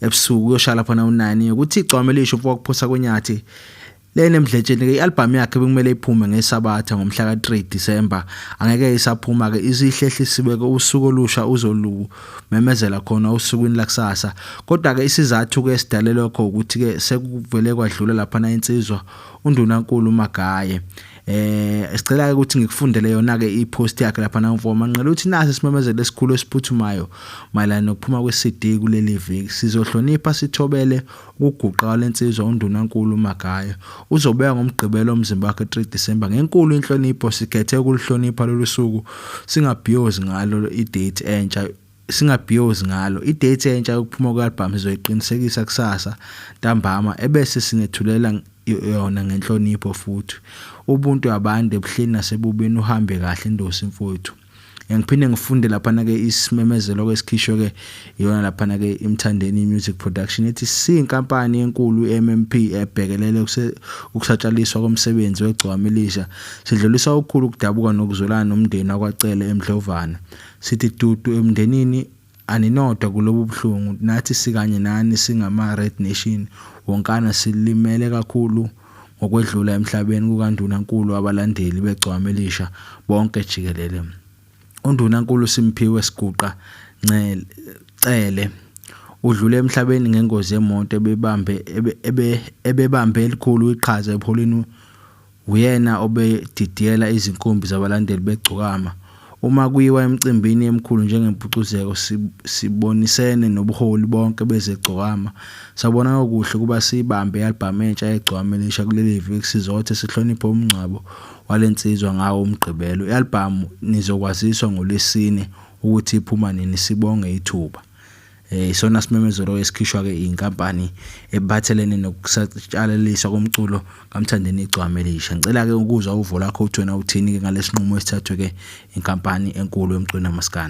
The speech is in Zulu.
ebusuku uyoshala phana unani ukuthi igcwame lisho mfo wakuphosa konyathi lenemdletsheni ke ialbum yakhe bekumele iphume ngesabatha ngomhla ka3 December angeke isaphuma ke isihlehlisiwe ke usuku olusha uzolu memezela khona usukwini lakusasa kodwa ke isizathu ke sidale lokho ukuthi ke sekuvele kwadlula lapha na insizwa undunankulu magaye eh sicela ukuthi ngikufundele yona ke ipost yakhe lapha na mfo manqela uthi nasi simemezele esikhulu esiphuthumayo mayelana nokuphuma kweCD kuleli viki sizohlonipha sithobele ukuguqa lensizwa undunankulu uMagaya uzobeka ngomgqibelo umzimba wakhe 3 December ngenkulu inhlonipho sikhethe ukulihlonipha lolu suku singabhiyozi ngalo idate entsha singabhiyozi ngalo. I-date entsha yokuphuma kwe-albhamu sizoyiqinisekisa kusasa ntambama ebese sinethulela yona ngenhlonipho futhi. Ubuntu abande ebuhleni nasebubini uhambe kahle Ndosi mfowethu. Ngiphinde ngifunde laphana-ke isimemezelo kwesikhishwe-ke iyona laphana-ke imthandeni music production ethi siyinkampani enkulu i-mmp ebhekelele ukusatshalaliswa komsebenzi wegcwama elisha sidlulisa okukhulu ukudabuka nokuzwelana nomndeni wakwacele emdlovana Sithi dudu emndenini aninodwa kulobu buhlungu nathi sikanye nani singama Red Nation wonkana silimele kakhulu ngokwedlula emhlabeni kukandunankulu abalandeli begcwama elisha bonke jikelele undunankulu simphiwe siguqa ncele cele udlule emhlabeni ngengozi yemoto ebebambe ebebambe elikhulu iqhaza epholini Uyena obedidiyela izinkumbi zabalandeli beGcokama. Uma kuyiwa emcimbini emikhulu njengeMpucuzeko sibonisene nobuholi bonke bezeGcokama. Sabona okuhle ukuba siyibambe i-albhamu entsha yeGcokama Elisha kuleli viki sizothe sihloniphe umngcwabo wale nsizwa ngawo uMgqibelo. I-albhamu nizokwaziswa ngoLwesine ukuthi iphuma nini, sibonge ithuba. Eh, isona simemezelo esikhishwa-ke inkampani ebathelene nokusatshalaliswa komculo kamthandeni igcwame elisha ngicela-ke ukuzwa uvo lakho uthi wena uthini-ke ngalesi nqumo esithathwe-ke inkampani enkulu yomculo namaskandi